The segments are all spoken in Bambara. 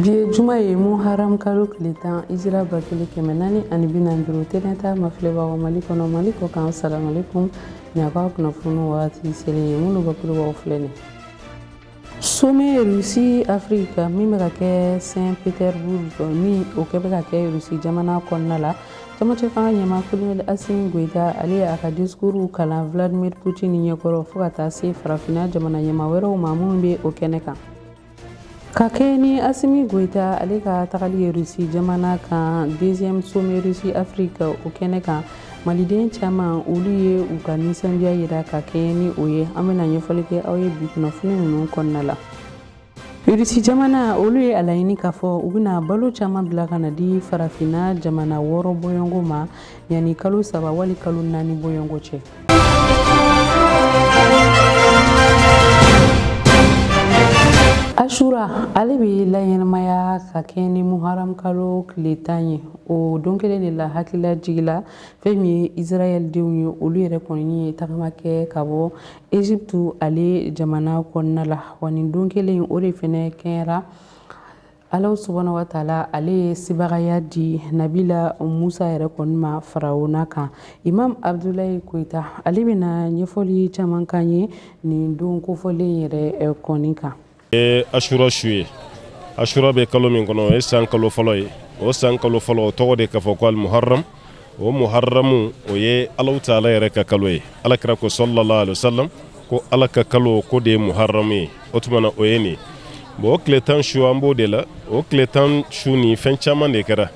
bi ye juma ye muharam kalo tile tan hijira ba kelen kɛmɛ naani ani bi naani duuru tele ɲɛta mafilɛbagaw mali kɔnɔ mali kɔ kan salamalekum nin y'aw ka kunnafoni wagati selen ye minnu bakurubaw filɛ nin sommet rusi afirika min bɛ ka kɛ saint petersbourg min o kɛ bɛ ka kɛ rusi jamana kɔnɔna la camancɛ fanga ɲɛmaa kolonɛli asimi goyita ale ye a ka disikuru kalan vladimir putin ɲɛkɔrɔ fo ka taa se farafinna jamana ɲɛmaa wɛrɛw ma minnu bɛ o kɛnɛ kan ka kɛɲɛ ni asimi goyita ale ka tagali ye rusi jamana kan deuxième sommet rusi afrique o kɛnɛ kan maliden caman olu ye u ka nisɔndiya yira ka kɛɲɛ ni o ye an bɛna ɲɛfɔli kɛ aw ye bi kunnafoni ninnu kɔnɔna la rusi jamana olu ye a laɲini k'a fɔ u bɛna balo caman bila ka na di farafinna jamana wɔɔrɔ bɔɲɔgɔnko ma yanni kalo saba wali kalo naani bɔɲɔgɔnko cɛ asura ale bɛ laɲɛnamaya ka kɛɲɛ ni muharam kalo tile tan ye o don kelen de la hakililajigi la fɛn min ye israɛldenw ye olu yɛrɛ kɔni ye tagama kɛ ka bɔ egypte ale jamana kɔnɔna la wa nin don kelen o de fɛnɛ kɛra alahu subahana wa taala ale ye sebagaya di nabila musa yɛrɛ kɔni ma farawuna kan imam abdulayi koyita ale bɛna ɲɛfɔli caman k'an ye nin don kofɔlen yɛrɛ eh, kɔni kan ye asura su ye asura bɛ kalo min kɔnɔ o ye san kalo fɔlɔ ye o san kalo fɔlɔ o tɔgɔ de ka fɔ ko alimuharam o muharamu o ye alahu taala yɛrɛ ka kalo ye alakira ko sallallahu alaihi wasallam ko ala ka kalo ko de ye muharamu ye o tuma na o ye nin bon o tile tan su an b'o de la o tile tan su nin fɛn caman de kɛra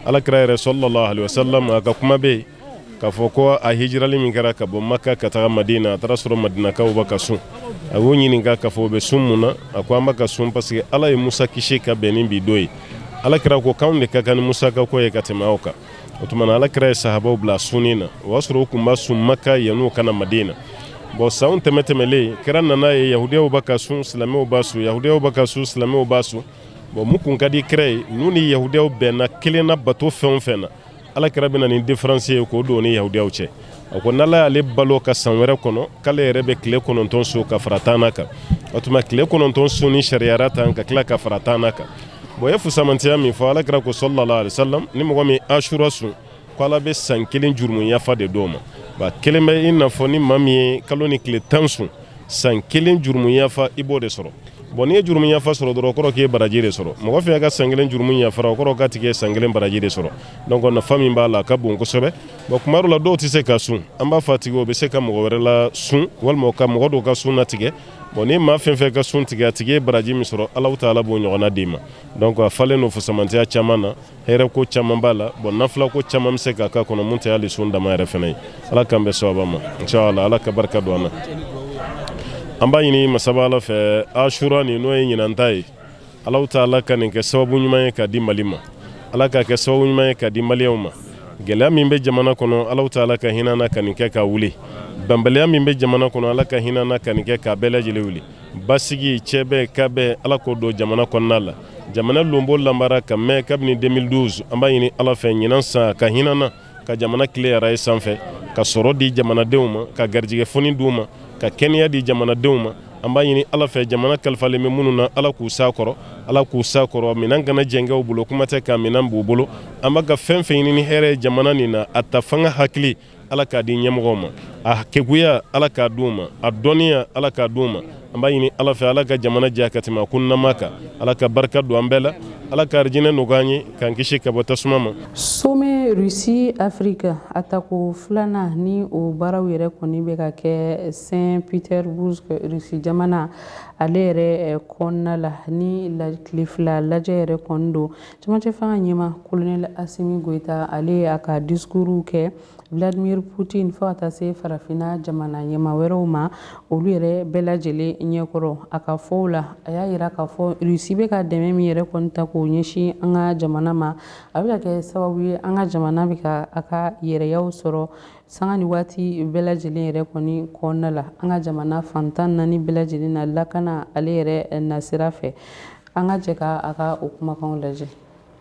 alakira yɛrɛ sallallahu alaihi wasallam a ka kuma bɛ yen k'a fɔ ko a hijirali min kɛra ka bɔ maka ka taga madina a taar'a sɔrɔ madinakaw bɛ ka sun a y'u ɲininka k'a fɔ u bɛ sun mun na a ko an bɛ ka sun parce que ala ye musa kisi ka bɛn ni bi don ye alakira ko k'anw de ka kan ni musa ka ko ye ka tɛmɛ aw kan o tuma na alakira ye sahabaw bila sunni na o y'a sɔrɔ u tun b'a sun maka yan'u ka na madina bon sanw tɛmɛ tɛmɛlen kira nan'a ye yahudiyaw bɛ ka sun silamɛw b'a sun yahudiyaw bɛ ka sun silamɛw b'a sun bon mun kun ka di kira ye n'u ni yahudiyaw bɛnna kelen na bato fɛn o fɛn na alakira bɛ na ni diferansi ye k'o don ni yahudiyaw cɛ a ko n'ala y'ale balo ka san wɛrɛ kɔnɔ k'ale yɛrɛ bɛ tile kɔnɔntɔn sun ka fara tannan kan o tuma tile kɔnɔntɔn sunni sariyara tan ka tila ka fara tannan kan bon ye fusamantiya min fɔ alakira ko sallallahu alaihi wasallam ni mɔgɔ min asura sun ko ala bɛ san kelen jurumu yafa de d'o ma a kɛlen bɛ i n'a fɔ ni maa min ye kalo nin tile tan sun san kelen jurumu yafa i b'o de sɔrɔ bon n'i ye jurumu yafa sɔrɔ dɔrɔn o kɔrɔ k'i ye baraji de sɔrɔ mɔgɔ fɛn ka san kelen jurumu yafara o kɔrɔ k'a tigi ye san kelen baraji de sɔrɔ donc nafa min b'a la a ka bon kosɛbɛ bon kuma dɔ la dɔw tɛ se ka sun an b'a fɔ a tigi o bɛ se ka mɔgɔ wɛrɛ lasun walima ka mɔgɔ dɔw ka sun latigɛ bon ni maa fɛn fɛn ka sun tigɛ a tigi ye baraji min sɔrɔ alahu taala b'o ɲɔgɔnna d'i ma donc a falen don fusamantiya caman na hɛrɛ ko caman b'a la bon nafila ko caman bɛ se ka k'a kɔnɔ mun tɛ hali sun dama yɛrɛ fana ye ala k'an bɛn sawaba ma inshallah ala ka barika don an na an b'a ɲini masaba ala fɛ asura nin n'o ye ɲinan ta ye Alahu taala ka nin kɛ sababu ɲuman ye k'a di mali ma ala k'a kɛ sababu ɲuman ye k'a di maliyɛnw ma gɛlɛya min bɛ jamana kɔnɔ alahu taala ka hinɛ an na ka nin kɛ k'a wuli bɛnbaliya min bɛ jamana kɔnɔ ala ka hinɛ an na ka nin kɛ k'a bɛɛ lajɛlen wuli basigi cɛ bɛ ka bɛɛ ala k'o don jamana kɔnɔna la jamana lonbolanbara ka mɛn kabini deux mille douze an b'a ɲini ala fɛ ɲinan san ka hinɛ an na ka jamana tile araye sanfɛ ka sɔrɔ di jamanadenw ma ka garijɛgɛ foni d'u ma ka kɛnɛya di jamanadenw ma an b'a ɲini ala fɛ jamana kalifalen bɛ minnu na ala k'u s'a kɔrɔ ala k'u s'a kɔrɔ minɛn kana jɛngɛ u bolo kuma tɛ ka minɛn b'u bolo an bɛ ka fɛn fɛn ɲini ni hɛrɛ ye jamana nin na a ta fanga hakili ala k'a di ɲɛmɔgɔw ma a keguya ala k'a d'u ma a dɔnniya ala k'a d'u ma an b'a ɲini ala fɛ ala ka jamana diya ka tɛmɛ a kunnama kan ala ka barika don an bɛɛ la ala ka arijinɛ nɔgɔya an ye k'an kisi ka bɔ tasuma ma sommet russie afrique a tako filanan ni o baaraw yɛrɛ kɔni bɛ ka kɛ saint petersbourg russie jamana ale yɛrɛ kɔnɔna la ni tile fila lajɛ yɛrɛ kɔni don cɛmancɛ fanga ɲɛmaa kolonɛli asimi goyita ale y'a ka discours kɛ vladimir putin fo ka taa se farafinna jamana ɲɛmaa wɛrɛw ma olu yɛrɛ bɛɛ lajɛlen ɲɛkɔrɔ a ka fɔ la a y'a yira k'a fɔ rusi bɛ ka dɛmɛ min yɛrɛ kɔni ta k'o ɲɛsin an ka jamana ma a bɛ ka kɛ sababu ye an ka jamana bɛ ka a ka yɛrɛya sɔrɔ sanga ni waati bɛɛ lajɛlen yɛrɛ kɔni kɔnɔna la an ka jamana fan tan ni naani bɛɛ lajɛlen na lakana ale yɛrɛ nasira fɛ an ka jɛ ka a ka o kumakanw lajɛ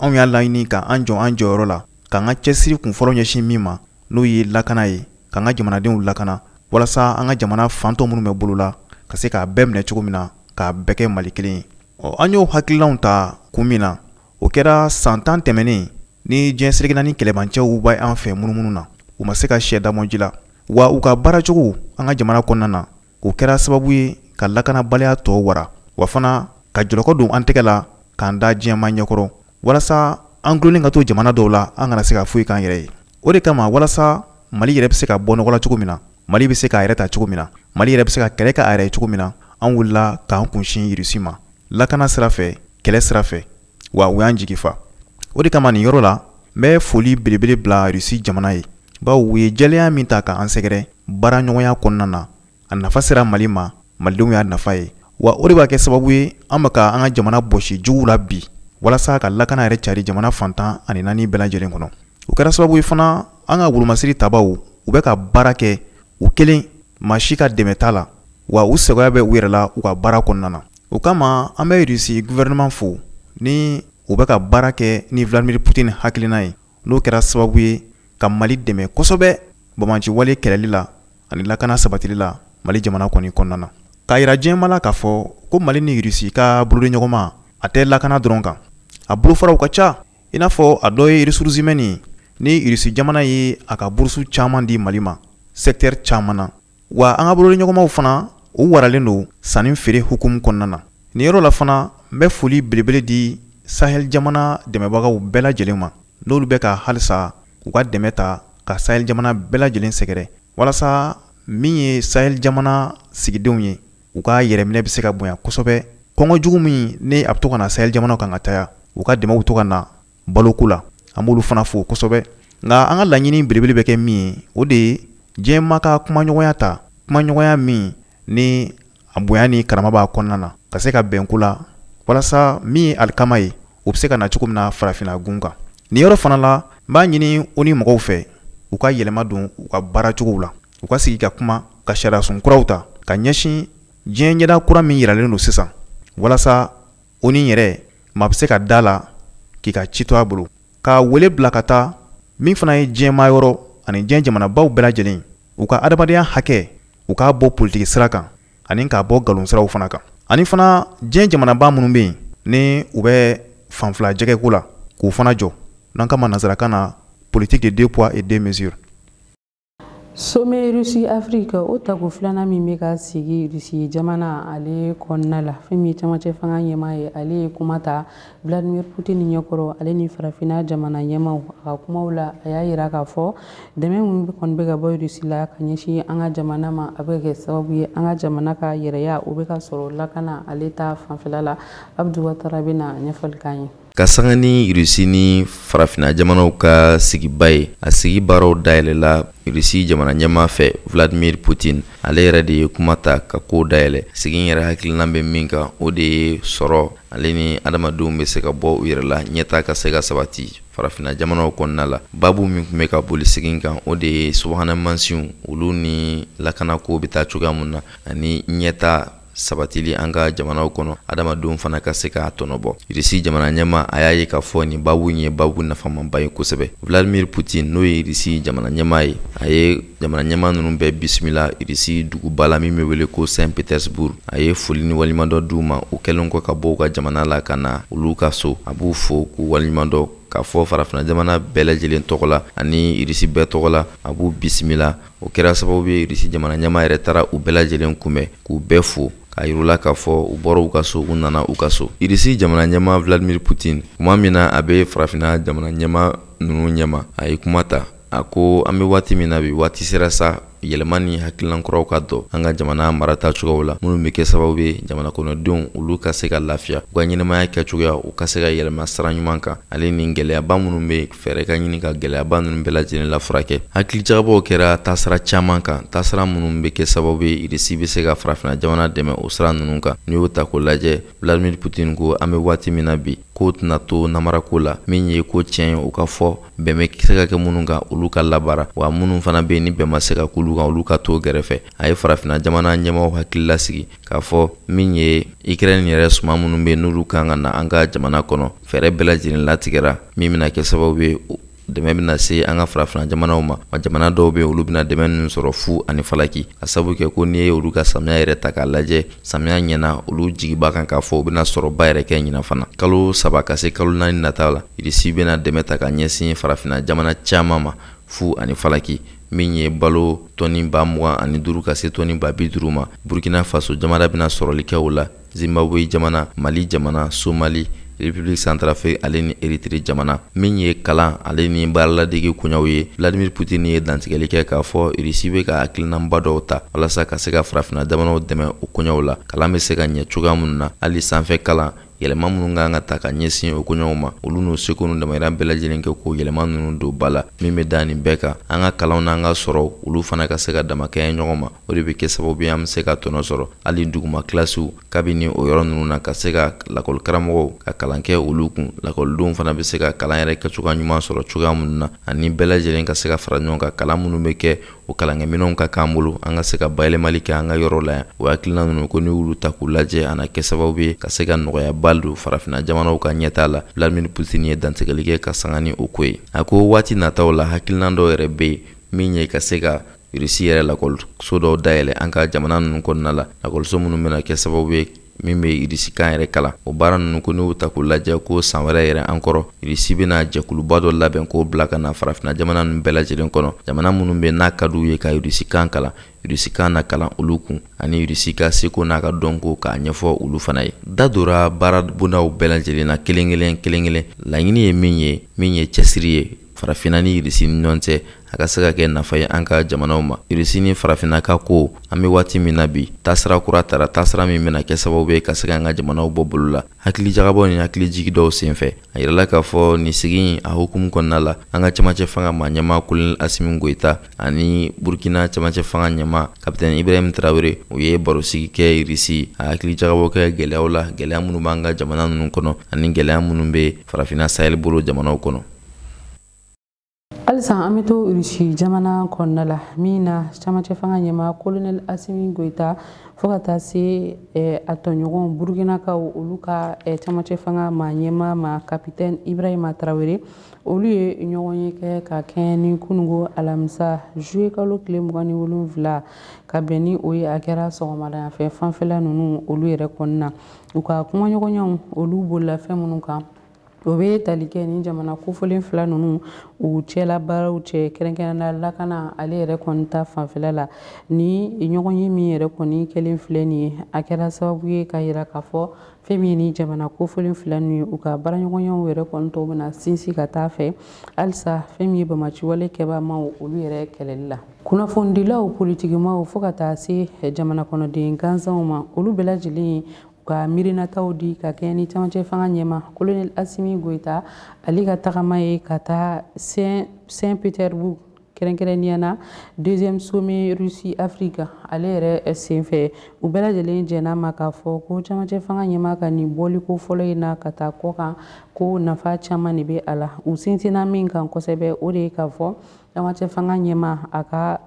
anw y'a laɲini ka an jɔ an jɔyɔrɔ la k'an ka cɛsiri kun fɔlɔ ɲɛsin min ma n'o ye lakana ye k'an ka jamanadenw lakana walasa an ka jamana fan tɔ minnu bɛ bolo la ka se k'a bɛɛ minɛ cogo min na k'a bɛɛ kɛ mali kelen ye ɔ an y'o hakililaw ta kun min na o kɛra san tan tɛmɛnen ni diɲɛ seleke naani kɛlɛbancɛw bɛ an fɛ munumunu na u ma se ka sɛ damɔji la wa u ka baaracogo an ka jamana kɔnɔna na o kɛra sababu ye ka lakanabaliya tɔ wara wa fana ka jɔlɔkɔ don an tɛgɛ la k'an da diɲɛmaa ɲɛkɔrɔ walasa an dulonnen ka to jamana dɔw la an kana se ka foyi k'an yɛrɛ ye o de kama walasa mali yɛrɛ bɛ se ka bɔ nɔgɔ la cogo min na mali bɛ se k'a yɛrɛ ta cogo min na mali yɛrɛ bɛ se ka kɛlɛ k'a yɛrɛ ye cogo min na an wulila k'an kunsin irisi ma lakana sira fɛ kɛlɛ sira fɛ wa u y'an jigi fa o de kama nin yɔrɔ la n bɛ foli belebele bila rusi jamana ye bawo u ye jɛlenya min ta ka an sɛgɛrɛ baaraɲɔgɔnya kɔnɔna na a nafa sera mali ma malidenw y'a nafa ye wa o de b'a kɛ sababu ye an bɛ ka an ka jamana bɔsi juguw la bi walasa ka lakana yɛrɛ cari jamana fan tan ani naani bɛɛ lajɛlen kɔnɔ o kɛra sababu ye fana an ka wolomasiri tabaw u bɛ ka baara kɛ u kelen maa si ka dɛmɛ t'a la wa u sɛgɛya bɛ u yɛrɛ la u ka baara kɔnɔna na o kama an bɛ irisi gufɛrɛnaman fo ni u bɛ ka baara kɛ ni vladimir putin hakilina ye n'o kɛra sababu ye ka mali dɛmɛ kosɛbɛ banbaanci wale kɛlɛli la ani lakana sabatili la mali jamana kɔni kɔnɔna na k'a yira diɲɛmaa la k'a fɔ ko mali ni irisi ka bolodiɲɔgɔnma a tɛ lakana dɔrɔn kan a bolofaraw ka ca i n'a fɔ a dɔ ye ressources humaines ni irisi jamana ye a ka burusu caman di mali ma secteur caman na wa an ka bolodiɲɔgɔnmaw fana u waralen don sanni feere hukumu kɔnɔna na nin yɔrɔ la fana n bɛ foli belebele di sahel jamana dɛmɛbagaw bɛɛ lajɛlen ma n'olu bɛ ka halisa u ka dɛmɛ ta ka sahel jamana bɛɛ lajɛlen sɛgɛrɛ walasa min ye sahel jamana sigidenw ye u ka yɛrɛminɛ bɛ se ka bonya kosɛbɛ kɔngɔ jugu min ni a bɛ to ka na sahel jamanaw kan ka caya u ka dɛmɛw to ka na baloko la an b'olu fana fo kosɛbɛ nka an ka laɲini belebele bɛ kɛ min ye o de ye diɲɛmaa ka kumaɲɔgɔnya ta kumaɲɔgɔnya min ni a bonya ni karama b'a kɔnɔna na ka se ka bɛn ko la walasa min ye alikama ye o bɛ se ka na cogo min na farafinna gun kan nin yɔrɔ fana la n b'a ɲini ONU mɔgɔw fɛ u ka yɛlɛma don u ka baara cogow la u ka sigi ka kuma ka sariyasun kuraw ta ka ɲɛsin diɲɛ ɲɛda kura min yiralen don sisan walasa ONU yɛrɛ maa bɛ se ka da a la k'i ka ci to a bolo ka wele bila ka taa min fana ye diɲɛmaa yɔrɔ ani diɲɛ jamanabaw bɛɛ lajɛlen u ka adamadenya hakɛ u k'a bɔ politiki sira kan ani k'a bɔ nkalon siraw fana kan ani fana diɲɛ jamanaba minnu bɛ yen ni u bɛ fanfila jɛgɛko la k'u fana jɔ n'an k'a ma nansarakan na politique de deux poids et deux mesures Sommet Russie Afrique o tako filanan min bɛ ka sigi Russie jamana ale kɔnɔna la fɛn min ye camancɛ fanga ɲɛmaa ye ale ye kuma ta Vladimir Putin ɲɛkɔrɔ ale ni farafinna jamana ɲɛmaaw a ka kumaw la a y'a yira k'a fɔ dɛmɛ min kɔni bɛ ka bɔ Russie la ka ɲɛsin an ka jamana ma a bɛ ka kɛ sababu ye an ka jamana ka yɛrɛya o bɛ ka sɔrɔ lakana ale ta fanfɛla la Abdu Watara bɛna ɲɛfɔli k'an ye ka sanga ni irisi ni farafina jamanaw ka sigiba ye a sigi baaraw dayɛlɛla irisi jamana ɲɛmaa fɛ vladimir putin ale yɛrɛ de ye kuma ta ka kow dayɛlɛ sigi yɛrɛ hakilinan bɛ min kan o de ye sɔrɔ ale ni adamadenw bɛ se ka bɔ u yɛrɛ la ɲɛtaa ka se ka sabati farafina jamanaw kɔnɔna la babu min tun bɛ ka boli sigi in kan o de ye subahana mansinw olu ni lakanako bɛ taa cogoya mun na ani ɲɛtaa sabatili an ka jamanaw kɔnɔ adamadenw fana ka se k'a tɔnɔ bɔ irisi jamana ɲɛmaa a y'a ye k'a fɔ nin babu in ye babu nafamanba ye kosɛbɛ vladimir putin n'o ye irisi jamana ɲɛmaa ye a ye jamana ɲɛmaa ninnu bɛɛ bisimila irisi duguba la min bɛ wele ko saint petersburg a ye foli ni waleɲumandɔn d'u ma u kɛlen kɔ ka bɔ u ka jamana la ka na olu ka so a b'u fo k'u waleɲumandɔn k'a fɔ farafina jamana bɛɛ lajɛlen tɔgɔ la ani irisi bɛɛ tɔgɔ la a b'u bisimila o kɛra sababu ye irisi jamana ɲɛmaa yɛrɛ taara u bɛɛ lajɛlen kunbɛn k'u bɛɛ fo k'a yirula k'a fɔ u bɔra u ka so u nana u ka so irisi jamana ɲɛmaa vladimir putin kuma min na a bɛ farafina jamana ɲɛmaa ninnu ɲɛma a ye kuma ta a ko an bɛ waati min na bi waati sera sa yɛlɛma ni hakililan kuraw ka don an ka jamana marata cogow la minnu bɛ kɛ sababu ye jamana kɔnɔdenw olu ka se ka lafiya u ka ɲɛnamaya kɛcogoya u ka se ka yɛlɛma sira ɲuman kan ale ni gɛlɛyaba minnu bɛ fɛɛrɛ ka ɲini ka gɛlɛyaba ninnu bɛɛ lajɛlen lafurakɛ hakilijagabɔw kɛra taasira caman kan taasira minnu bɛ kɛ sababu ye irisi bɛ se ka farafina jamana dɛmɛ o sira ninnu kan n'i y'o ta k'o lajɛ vladimir putin ko an bɛ waati min na bi ko tɛna to namarako la min ye ko tiɲɛ ye o ka fɔ bɛn bɛ se ka kɛ minnu kan olu ka labaara wa minnu fana bɛ yen ni bɛn ma se ka k'olu kan olu ka to gɛrɛfɛ a ye farafina jamana ɲɛmaaw hakili lasigi k'a fɔ min ye ukraine yɛrɛ suman minnu bɛ yen n'olu kan ka na an ka jamana kɔnɔ fɛɛrɛ bɛɛ lajɛlen latigɛra min bɛna kɛ sababu ye dɛmɛ bɛna se an ka farafina jamanaw ma wa jamana dɔw bɛ olu bɛna dɛmɛ ninnu sɔrɔ fu ani falaki a sabu kɛ ko n'i ye olu ka samiya yɛrɛ ta k'a lajɛ samiya ɲɛna olu jigi b'a kan k'a fɔ u bɛna sɔrɔba yɛrɛ kɛ ɲinan fana kalo saba ka se kalo naani nata la irisi bɛna dɛmɛ ta ka ɲɛsin farafina jamana caman ma fu ani falaki min ye balo tɔni ba mugan ani duuru ka se tɔni ba bi duuru ma burkina faso jamana bɛna sɔrɔli kɛ o la zimbabwe jamana mali jamana somali republiki santarafrik ale ni eritiri jamana min ye kalan ale ni baaraladege koɲaw ye vladimir putin ye dantigɛli kɛ k'a fɔ irisi bɛ ka hakilinanba dɔw ta walasa ka se ka farafina jamanaw dɛmɛ o koɲaw la kalan bɛ se ka ɲɛ cogoya minnu na hali sanfɛ kalan yɛlɛma minnu kan ka ta ka ɲɛsin o koɲaw ma olu n'u seko n'u damayira bɛɛ lajɛlen kɛ k'o yɛlɛma ninnu don ba la min bɛ da nin bɛɛ kan an ka kalanw n'an ka sɔrɔw olu fana ka se ka damakɛɲɛ ɲɔgɔn ma o de bɛ kɛ sababu ye an bɛ se ka tɔnɔ sɔrɔ hali duguma kilasiw kabini o yɔrɔ ninnu na ka se ka lakɔlikaramɔgɔw ka kalan kɛ olu kun lakɔlidenw fana bɛ se ka kalan yɛrɛ kɛcogoya ɲuman sɔrɔ cogoya minnu na ani bɛɛ lajɛlen ka se ka fara ɲɔgɔn kan kalan minnu bɛ kɛ o kalankɛminɛnw ka k'an bolo an ka se ka bayɛlɛmali kɛ an ka yɔrɔ la yan o hakilina ninnu ko n'i y'olu ta k'u lajɛ a na kɛ sababu ye ka se ka nɔgɔyaba don farafina jamanaw ka ɲɛtaa la vladimir putin ye dantigɛli kɛ ka sanga ni o ko ye a ko waati nataw la hakilinan dɔw yɛrɛ bɛ yen min ye ka se ka irisi yɛrɛ lakɔliso dɔw dayɛlɛ an ka jamana ninnu kɔnɔna la lakɔliso minnu bɛna kɛ sababu ye min bɛ irisikan yɛrɛ kalan o baara ninnu ko n'u ta k'u lajɛ ko san wɛrɛ yɛrɛ an kɔrɔ irisi bɛna jɛkuluba dɔ labɛn k'o bila ka na farafina jamana ninnu bɛɛ lajɛlen kɔnɔ jamana minnu bɛ n'a ka d'u ye ka irisikan kalan irisikan na kalan olu kun ani irisi ka seko n'a ka dɔnko k'a ɲɛfɔ olu fana ye da dora baara bondaw bɛɛ lajɛlen na kelen kelen kelen kelen laɲini ye min ye min ye cɛsiri ye farafinna ni irisi ni ɲɔgɔn cɛ a ka se ka kɛ nafa ye an ka jamanaw ma irisi ni farafinna ka ko an bɛ waati min na bi taasira kura tara taasira min bɛna kɛ sababu ye ka se ka an ka jamanaw bɔ bolo la hakilijagabɔ ni hakilijigi dɔw senfɛ a yirala k'a fɔ nin sigi a hukumu kɔnɔna la an ka cɛmancɛ fanga ma ɲɛma kolonel asimi goyita ani burkina cɛmancɛ fanga ɲɛma kapitɛn ibrahim tarawele u ye barosigi kɛ irisi a hakilijagabɔ kɛ gɛlɛyaw la gɛlɛya minnu b'an ka jamana ninnu kɔnɔ ani gɛlɛya minnu bɛ farafinna sahɛli bolo jamanaw kɔnɔ halisa an bɛ to irisi jamana kɔnɔna la min na camacɛ fanga ɲɛma kolonɛli asimi goyita fo ka taa se eh, a tɔɲɔgɔn burukinakaw olu ka eh, camacɛ fanga ma ɲɛma ma kapitɛni ibrahima tarawele olu ye ɲɔgɔnye kɛ ka kɛɲɛ ni kunungo alamisa juye kalo tile mugan ni wolonfila ka bɛn ni o ye a kɛra sɔgɔmadayafɛ fanfɛla ninnu olu yɛrɛ kɔnɔna u ka kumaɲɔgɔnyaw olu bolila fɛn minnu kan o bɛ tali kɛ ni jamana kofɔlen fila ninnu u cɛla baaraw cɛ kɛrɛnkɛrɛnnenya la lakana ale yɛrɛ kɔni ta fanfɛla la nin ɲɔgɔnye min yɛrɛ kɔni kɛlen filɛ nin ye a kɛra sababu ye ka yira k'a fɔ fɛn min ye nin jamana kofɔlen fila ninnu ye u ka baaraɲɔgɔnyaw yɛrɛ kɔni tɔw bɛna sinsin ka taa a fɛ halisa fɛn min ye banbaaciwale kɛbaamaw olu yɛrɛ kɛlɛli la kunnafonidilaw politikimaw fo ka taa se jamana kɔnɔden gansanw ma olu bɛɛ lajɛlen ka miirinataw di ka kɛɲɛ ni camancɛ fanga ɲɛma kolonɛli asimi goyita ale ka tagama ye ka taa saint petersbourg kɛrɛnkɛrɛnnenya na deuxième sommet russie afrique ale yɛrɛ senfɛ u bɛɛ lajɛlen jɛn'a ma k'a fɔ ko camancɛ fanga ɲɛma ka nin bɔliko fɔlɔ in na ka taa kɔkan ko nafa caman de bɛ a la u sinsinna min kan kosɛbɛ o de ye k'a fɔ camancɛ fanga ɲɛma a ka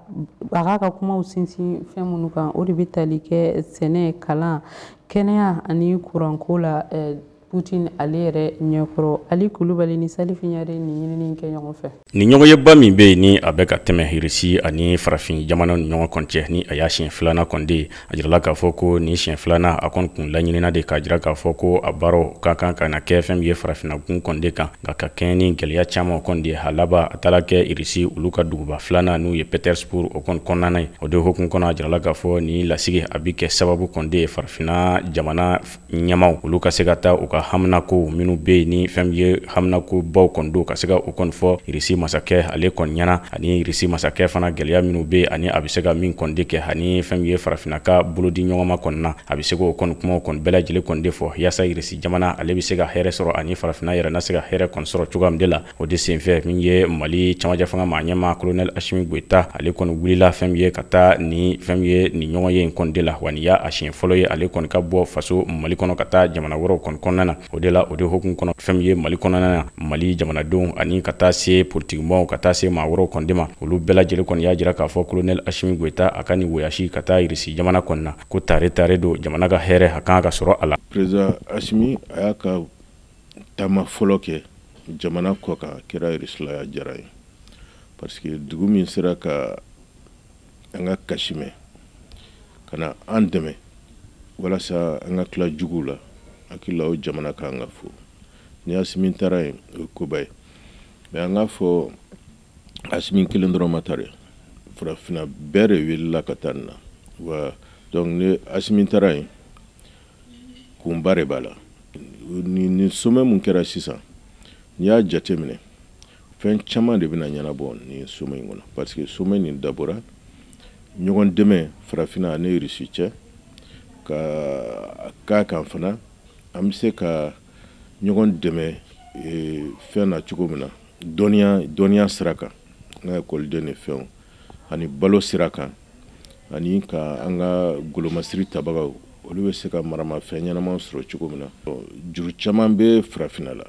a k'a ka kumaw sinsin fɛn minnu kan o de bɛ tali kɛ sɛnɛ kalan kɛnɛya ani kuranko la eh, Putin ale yɛrɛ ɲɛkɔrɔ Ali Kulubali ni Salifu Ɲare ni ɲinini kɛ ɲɔgɔn fɛ. Nin ɲɔgɔnyeba min bɛ yen ni a bɛ ka tɛmɛ Irisi ani farafin jamana ni ɲɔgɔn kɔni cɛ ni a y'a siɲɛ filanan kɔni de ye a jirala k'a fɔ ko nin siɲɛ filanan a kɔni kun laɲinina de k'a jira k'a fɔ ko a baaraw ka kan ka na kɛ fɛn min ye farafinnagun kɔni de kan nka ka kɛɲɛ ni gɛlɛya caman kɔni de a laban a taara kɛ irisi olu ka duguba filanan n'o ye petersburg o kɔni kɔnɔna ye o de hukumu kɔnɔ a jirala k'a fɔ nin lasigi a bi kɛ sababu kɔni de ye farafinna jamana ɲɛmaaw olu ka se ka taa u ka haminakow minnu bɛ yen ni fɛn ye haminakobaw kɔni don ka se ka o kɔni fɔ irisi masakɛ ale kɔni ɲɛna ani irisi masakɛ fana gɛlɛya minnu bɛ yen ani a bɛ se ka min kɔni de kɛ ani fɛn ye farafinna ka bolodi ɲɔgɔnma kɔni na a bɛ se k'o kɔni kumaw kɔni bɛɛ lajɛlen kɔni de fɔ yaasa irisi jamana ale bɛ se ka hɛrɛɛ sɔrɔ ani farafinna yɛrɛ na se ka hɛrɛɛ kɔni sɔrɔ cogoya min de la O de senfɛ min ye mali camancɛ fanga maa ɲɛmaa colonel asimi goyita ale kɔni wulila fɛn ye ka taa ni fɛn ye nin ɲɔgɔn ye in kɔni de la wa nin y'a siɲɛ fɔlɔ ye ale kɔni ka bɔ faso mali kɔnɔ ka taa jamana wɛrɛw kɔni kɔnɔna na o de la o de hukumu kɔnɔ fɛn ye mali kɔnɔna na mali jamanadenw ani ka taa se politikimɔgɔw ka taa se maa wɛrɛw kɔni de ma olu bɛɛ lajɛlen kɔni y'a jira k'a fɔ colonel asimi goyita a ka nin voyage ka taa irisi jamana kɔni na ko tare tare don jamana ka hɛrɛɛ a kan ka sɔrɔ a la taama fɔlɔ kɛ jamana kɔ kan a kɛra irisi la a diyara n ye parce que dugu min sera ka an ka kasi mɛn ka na an dɛmɛ walasa an ka tila juguw la hakili la o jamana kan ka fo ni asimi taara yen o ye koba ye mais an k'a fɔ asimi kelen dɔrɔn ma taa dɛ farafinna bɛɛ de wulila ka taa nin na wa donc ni asimi taara yen kunba de b'a la nin sommet mun kɛra sisan n'i y'a jate minɛ fɛn caman de bɛna ɲɛnabɔ nin sommet in kɔnɔ parce que sommet nin dabɔra ɲɔgɔn dɛmɛ farafinna ani irisi cɛ ka k'a kan fana an bɛ se ka ɲɔgɔn dɛmɛ e, fɛn na cogo min na dɔnniya sira kan an ka ekɔliden ni fɛnw ani balo sira kan ani ka an ka golomasiri tabagaw olu bɛ se ka maramafɛn ɲɛnama sɔrɔ cogo min na juru caman bɛ farafinna la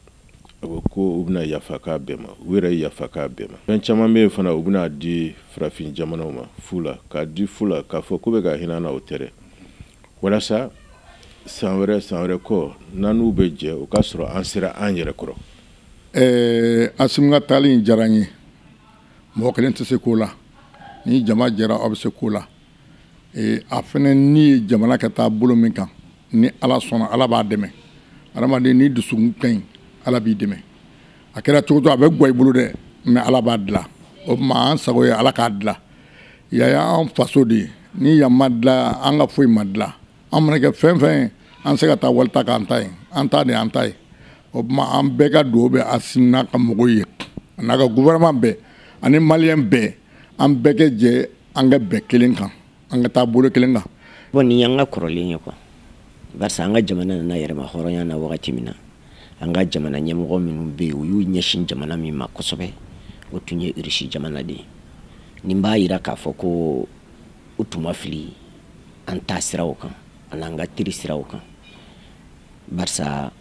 a ko u bɛna yafa k'a bɛɛ ma u yɛrɛ yafa k'a bɛɛ ma fɛn caman bɛ yen fana u bɛna di farafin jamanaw ma fu la k'a di fu la k'a fɔ k'u bɛ ka hinɛ an na o tɛ dɛ walasa san wɛrɛ san wɛrɛ kɔ n'an n'u bɛ jɛ o k'a sɔrɔ an sera an yɛrɛ kɔrɔ ɛɛ asimi ka taali in diyara n ye mɔgɔ kelen tɛ se ko la ni jama jɛra aw bɛ se ko la e, a fana ni ye jamana ka taa bolo min kan ni ala sɔnna ala b'a dɛmɛ adamaden n'i dusukun ka ɲi ala b'i dɛmɛ a kɛra cogo cogo a bɛ gwa i bolo dɛ mais ala b'a dila o tuma an sago ye ala k'a dila yan y'an faso de ye ni yan ma dila an ka foyi ma dila an mana kɛ fɛn fɛn ye an tɛ se ka taa wali ta k'an ta ye an ta de an ta ye o tuma an bɛɛ ka dugawu bɛ asimi n'a ka mɔgɔw ye a n'a ka gouvernement bɛɛ ani maliyɛn bɛɛ an bɛɛ ka jɛ an ka bɛn kelen kan an ka taa bolo kelen kan bon nin y'an ka kɔrɔlen ye quoi barisa an ka jamana nana yɛrɛma hɔrɔnya na wagati min na an ka jamana ɲɛmɔgɔ minnu bɛ yen u y'u ɲɛsin jamana min ma kosɛbɛ o tun ye irisi jamana de ye nin b'a yira k'a fɔ ko u tun ma fili an ta siraw kan an'an ka teri siraw kan barisa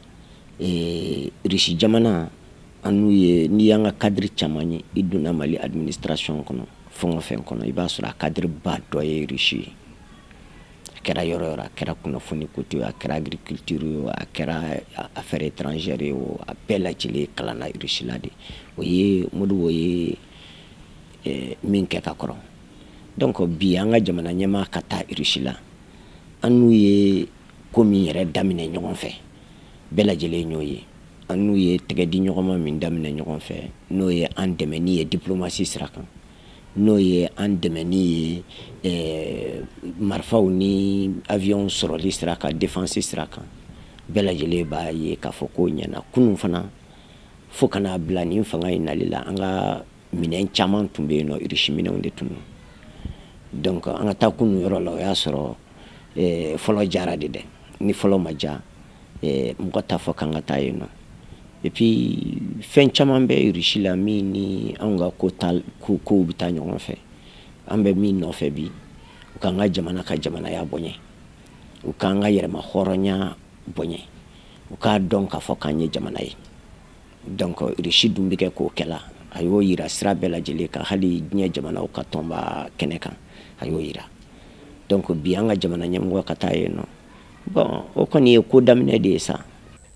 eh, risi jamana an n'u ye n'i y'an ka kadiri caman ye i donna mali administration kɔnɔ fɛn o fɛn kɔnɔ i b'a sɔrɔ a kadiri ba dɔ ye risi ye a kɛra yɔrɔ o yɔrɔ a kɛra kunnafoni ko ye a kɛra agriculture ye a kɛra affaire étrangère ye o a bɛɛ lajɛlen kalanna risi la de o ye modibo ye eh, min kɛ ka kɔrɔ donc bi an ka jamana ɲɛmaa ka taa irisi la an n'u ye ko min yɛrɛ daminɛ ɲɔgɔn fɛ bɛɛ lajɛlen y'o ye an n'u ye tɛgɛ di ɲɔgɔn ma min daminɛ ɲɔgɔn fɛ n'o ye an dɛmɛni ye diplomasi sira kan n'o ye an dɛmɛni ye eh, marifaw ni avion sɔrɔli sira kan defansi sira kan bɛɛ lajɛlen b'a ye k'a fɔ ko ɲɛna kunun fana fo ka na bila nin fanga in nali la an ka minɛn caman tun bɛ yen nɔ irisi minɛnw de tun don donc an ka taa kunun yɔrɔ la o y'a sɔrɔ eh, fɔlɔ diyara de dɛ ni fɔlɔ ma diya eh, mɔgɔ t'a fɔ k'an ka taa yen nɔ et puis fɛn caman bɛ irisi la min ni anw ka ko ta ko kow bɛ taa ɲɔgɔn fɛ an bɛ min nɔfɛ bi u k'an ka jamana ka jamanaya bonya u k'an ka yɛrɛmahɔrɔnya bonya u k'a dɔn k'a fɔ k'an ye jamana ye donc irisi dun bɛ kɛ k'o kɛla a y'o yira sira bɛɛ lajɛlen kan hali diɲɛ jamanaw ka tɔnba kɛnɛ kan a y'o yira donc bi an ka jamana ɲɛmɔgɔ ka taa yen nɔ bon o kɔni ye ko daminɛ de ye sa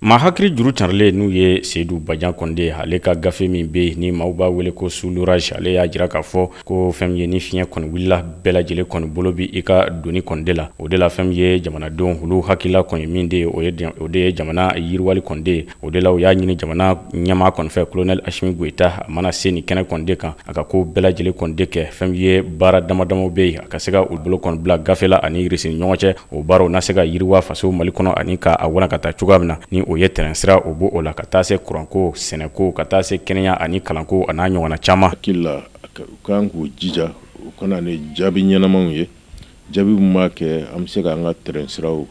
maa hakili juru carilen n'o ye seyidu bajan kɔni de ye ale ka gafe min bɛ yen ni maaw b'a wele ko sous l'orage ale y'a jira k'a fɔ ko fɛn min ye ni fiɲɛ kɔni wulila bɛɛ lajɛlen kɔni bolo bi i ka doni kɔni de la o de la fɛn min ye jamanadenw olu hakilila kɔni min bɛ yen o de ye jamana yiriwali kɔni de O de la u y'a ɲini jamana ɲɛmaa kɔni fɛ kolonɛli asimi goyita a mana se nin kɛnɛ kɔni de kan a ka ko bɛɛ lajɛlen kɔni de kɛ fɛn min ye baara damadamaw bɛ yen a ka se ka u bolo kɔni bila gafe la ani irisi ni ɲɔgɔn cɛ o baaraw na se ka yiriwa faso mali kɔnɔ ani ka a walankata cogoya min na ni o ye tɛrɛn sira o bɔ o la ka taa se kuranko sɛnɛko ka taa se kɛnɛya ani kalanko ani a ɲɔgɔnna caman hakili la u ka kan k'u jija u ka na ni jaabi ɲɛnamaw ye jaabi min b'a kɛ an bɛ se k'an ka tɛrɛn siraw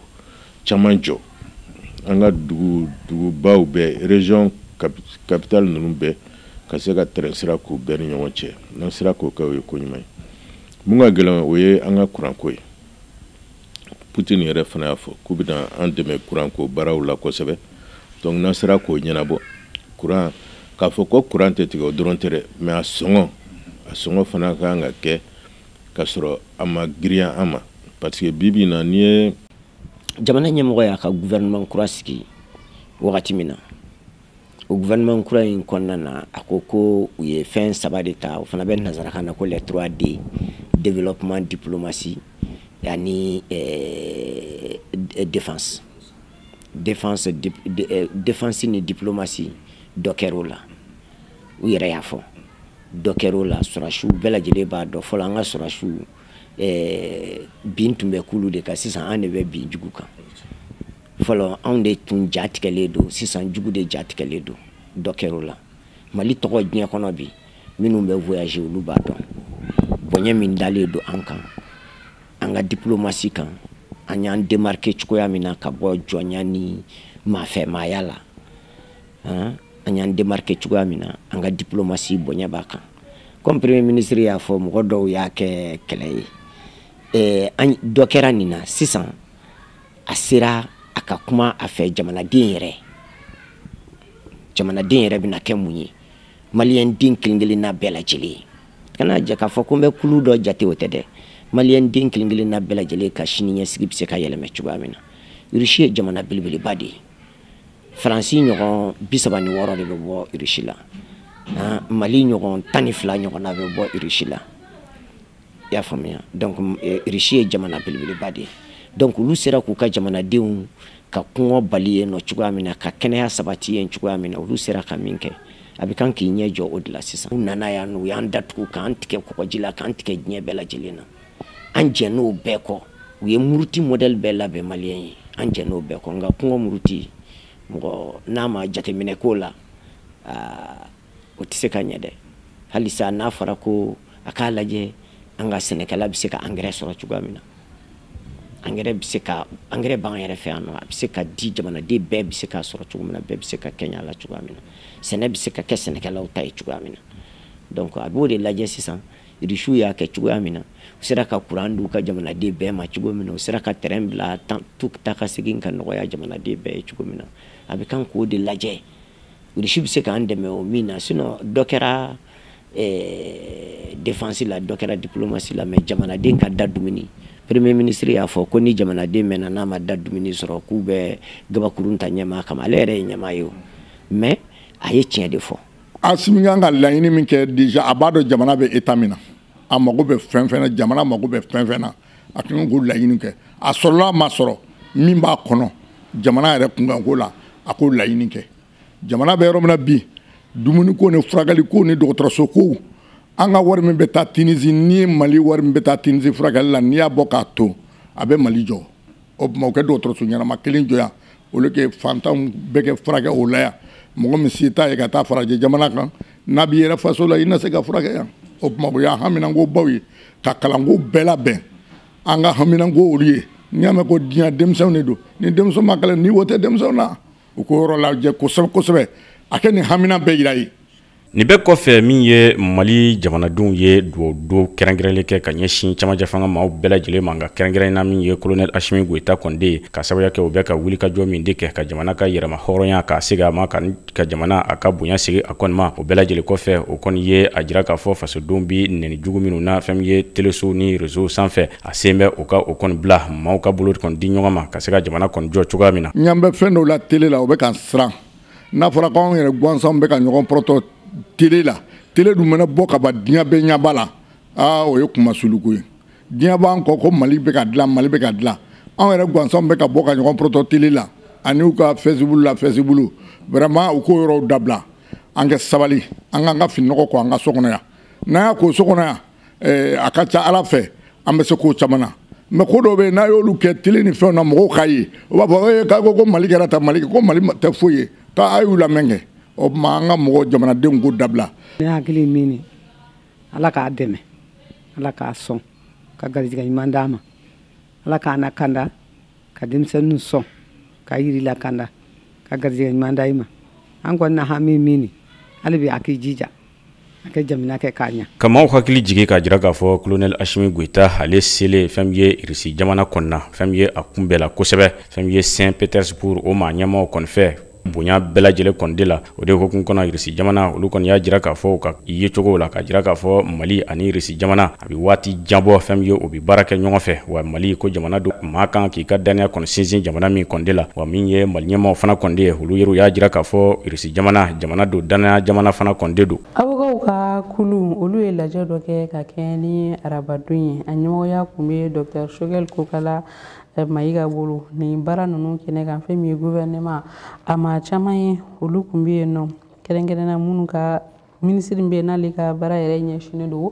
caman jɔ an ka dugu dugubaw bɛɛ région capitale ninnu bɛɛ ka se ka tɛrɛn sira k'u bɛɛ ni ɲɔgɔn cɛ n'an sera k'o kɛ o ye ko ɲuman ye mun ka gɛlɛn o ye an ka kuranko ye putin yɛrɛ fana y'a fɔ k'u bɛna an dɛmɛ kuranko baaraw la kosɛbɛ donc n'an sera k'o ɲɛnabɔ kuran k'a fɔ ko kuran tɛ tigɛ o dɔrɔn tɛ dɛ mais a sɔngɔ a sɔngɔ fana ka kan ka kɛ ka sɔrɔ a ma girinya an ma parce que bi bi in na n'i ye jamana ɲɛmɔgɔ y'a ka gouvernement kura sigi wagati min na o gouvernement kura in kɔnɔna na a ko ko u ye fɛn saba de ta o fana bɛ nazarakan na ko les 3 D développement diplomatie ani euh, défense défense dip, de, euh, défense ni diplomatie dɔ kɛr'o la u yɛrɛ y'a fɔ dɔ kɛr'o la sɔrɔsiw bɛɛ lajɛlen b'a dɔn fɔlɔ an ka sɔrɔsiw eh, bin tun bɛ k'olu de kan sisan an de bɛ bin jugu kan fɔlɔ anw de tun ja tigɛlen don sisan jugu de ja tigɛlen don dɔ kɛr'o la mali tɔgɔ diɲɛ kɔnɔ bi minnu bɛ voyager olu b'a dɔn bonya min dalen don an kan an ka diplomatie kan an y'an démarquer cogoya min na ka bɔ jɔnya ni maafɛmaaya la an y'an démarquer cogoya min na an ka diplomatie bonya b'a kan comme premier ministre y'a fɔ mɔgɔ dɔw y'a kɛ kɛlɛ ye eh, an dɔ kɛra nin na sisan a sera a ka kuma a fɛ jamanaden yɛrɛ jamanaden yɛrɛ bɛna kɛ mun ye maliyɛn den kelen kelen na bɛɛ lajɛlen ye kana jɛ k'a fɔ ko n bɛ kulu dɔ jate o tɛ dɛ maliyɛn den kelen kelen na bɛɛ lajɛlen ka sini ɲɛsigi bɛ se ka yɛlɛma cogoya min na irisi ye jamana belebeleba de ye faransi ɲɔgɔn bi saba ni wɔɔrɔ de bɛ bɔ irisi la mali ɲɔgɔn tan ni fila ɲɔgɔnna bɛ bɔ irisi la i y'a faamuya donc irisi ye jamana belebeleba de ye donc olu sera k'u ka jamanadenw ka kɔngɔ bali yen nɔ cogoya min na ka kɛnɛya sabati yen cogoya min na olu sera ka min kɛ a bɛ kan k'i ɲɛ jɔ o de la sisan u nana yan u y'an datugu k'an tigɛ kɔgɔji la k'an tigɛ diɲɛ bɛɛ lajɛlen na an jɛnn'o bɛɛ kɔ u ye muruti modèle bɛɛ labɛn maliyɛn ye an jɛnn'o bɛɛ kɔ nka kɔngɔ muruti mɔgɔ n'a ma jateminɛ k'o la o tɛ se ka ɲɛ dɛ halisa n'a fɔra ko a k'a lajɛ an ka sɛnɛkɛla bɛ se ka angɛrɛ sɔrɔ cogoya min na angɛrɛ bɛ se ka angɛrɛ b'an yɛrɛ fɛ yan nɔ a bɛ se ka di jamanaden bɛɛ bɛ se k'a sɔrɔ cogo min na bɛɛ bɛ se ka kɛɲɛ a la cogoya min na sɛnɛ bɛ se ka kɛ sɛnɛkɛlaw ta ye cogoya min na donc a b'o de lajɛ sisan irisiw y'a kɛ cogoya min na u sera ka kuran di u ka jamanaden bɛɛ ma cogo min na u sera ka tɛrɛn bila taa ka segin ka nɔgɔya jamanaden bɛɛ ye cogo min na a bɛ kan k'o de lajɛ irisi bɛ se k'an dɛmɛ o min na sinon dɔ kɛra eh, défense la dɔ kɛra diplomatie la mais jamanaden ka da dumuni premier ministre y'a fɔ ko ni jamanaden mɛɛnna n'a ma da dumuni sɔrɔ k'u bɛ gabakurun ta ɲɛmaa kama ale yɛrɛ ye ɲɛmaa ye o mais a ye tiɲɛ de fɔ asimi kan ka laɲini min kɛ déjà a b'a dɔn jamana bɛ état min na a mago bɛ fɛn fɛn na jamana mago bɛ fɛn fɛn na a kan k'o laɲini kɛ a sɔrɔla a ma sɔrɔ min b'a kɔnɔ jamana yɛrɛ kunkanko la a k'o laɲini kɛ jamana bɛ yɔrɔ min na bi dumuniko ni furakɛliko ni dɔgɔtɔrɔsokow an ka wari min bɛ taa tinisi ni mali wari min bɛ taa tinisi furakɛli la n'i y'a bɔ k'a to a bɛ mali jɔ o tuma u kɛ dɔgɔtɔrɔso ɲɛnama kelen jɔ yan olu kɛ fantanw bɛɛ kɛ furakɛ o la yan mɔgɔ min se t'a ye ka taa farajɛ jamana kan n'a b'i yɛrɛ faso la i na se ka furakɛ yan o tuma o y'an haminanko baw ye ka kalanko bɛɛ labɛn an ka haminanko olu ye n'i y'a mɛn ko diɲɛ denmisɛnw de don ni denmisɛn ma kalan niwo tɛ denmisɛnw na u k'o yɔrɔ lajɛ kosɛbɛ kosɛbɛ a kɛ nin hamina bɛɛ yira ye Nin bɛɛ kɔfɛ min ye mali jamanadenw ye duwawu don kɛrɛnkɛrɛnnen kɛ ka ɲɛsin camancɛ fanga maaw bɛɛ lajɛlen ma nka kɛrɛnkɛrɛnna min ye kolonɛli asimi goyita kɔni de ye k'a sababuya kɛ u bɛ ka wulikajɔ min de kɛ ka jamana ka yɛrɛmahɔrɔnya ka segin a ma ka ka jamana a ka bonya segin a kɔni ma o bɛɛ lajɛlen kɔfɛ o kɔni ye a jira k'a fɔ fasodenw bɛ nɛni jugu minnu na fɛn min ye telesow ni rezow sanfɛ a sen bɛ u ka o kɔni bila maaw ka bolo kɔni di ɲɔgɔn ma ka se ka jamana kɔni jɔ cogoya min na n ɲa bɛ fɛn dɔw la tele la o bɛ ka n siran n'a fɔra ko anw yɛrɛ gansanw bɛ ka ɲɔgɔn pɔrɔtɔ tele la tele dun mana bɔ ka ban diɲɛ bɛɛ ɲɛ b'a la aa o ye kunmasuliko ye diɲɛ b'an kɔ ko mali bɛ ka dilan mali bɛ ka dilan anw yɛrɛ gansanw bɛ ka bɔ ka ɲɔgɔn pɔrɔtɔ tele la ani u ka fɛsibulu la fɛsibulu vraiment u k'o yɔrɔw dabila an kɛ sabali an k'an ka fininɔgɔ ko an ka so kɔnɔ yan n'an y'a ko so kɔnɔ yan eh, a ka ca ala fɛ an bɛ se k'o caman na mɛ ko dɔw bɛ yen n'a y'olu kɛ tele ni fɛnw na mɔgɔw k'a ye o b'a fɔ ee k'a ko ko mali kɛra tan mali ko mali tɛ foyi ye k'a y'u lamɛn kɛ o tuma an ka mɔgɔ jamanadenw ko dabila ne hakili min ye ala k'a dɛmɛ ala k'a sɔn ka garijɛgɛ ɲuman d'a ma ala k'a lakanda ka denmisɛnninw sɔn ka yiri lakanda ka garijɛgɛ ɲuman da i ma an kɔnɔna hami min ye hali bi a k'i jija Ka maaw hakili jigin k'a jira k'a fɔ kolonɛli asimi goyita ale selen fɛn min ye irisi jamana kɔnɔna na fɛn min ye a kunbɛnna kosɛbɛ fɛn min ye Saint-Pétersbourg o maa ɲɛmaaw kɔni fɛ bonya bɛɛ lajɛlen kɔni de la o de hukumu kɔnɔ irisi jamana olu kɔni y'a jira k'a fɔ u ka yecogo la k'a jira k'a fɔ mali ani irisi jamana A bɛ waati jan bɔ fɛn min ye u bɛ baara kɛ ɲɔgɔn fɛ wa mali ko jamana don maa kan k'i ka danaya kɔni sinsin jamana min kɔni de la wa min ye mali ɲɛmaaw fana kɔni de ye olu yɛrɛ y'a jira k'a fɔ irisi jamana jamana don danaya jamana fana kɔni de don awokaw ka kulu olu ye lajɛ dɔ kɛ ka kɛɲɛ ni arabadon ye a ɲɛmɔgɔya tun bɛ dɔgɔtɔrɔ sogɛli kokala eh, mayiga bolo nin baara ninnu kɛnɛ kan fɛn min ye gouvernement a maa caman ye olu tun bɛ yen nɔ kɛrɛnkɛrɛnna minnu ka minisiri bɛ n'ale ka baara yɛrɛ ɲɛsinnen don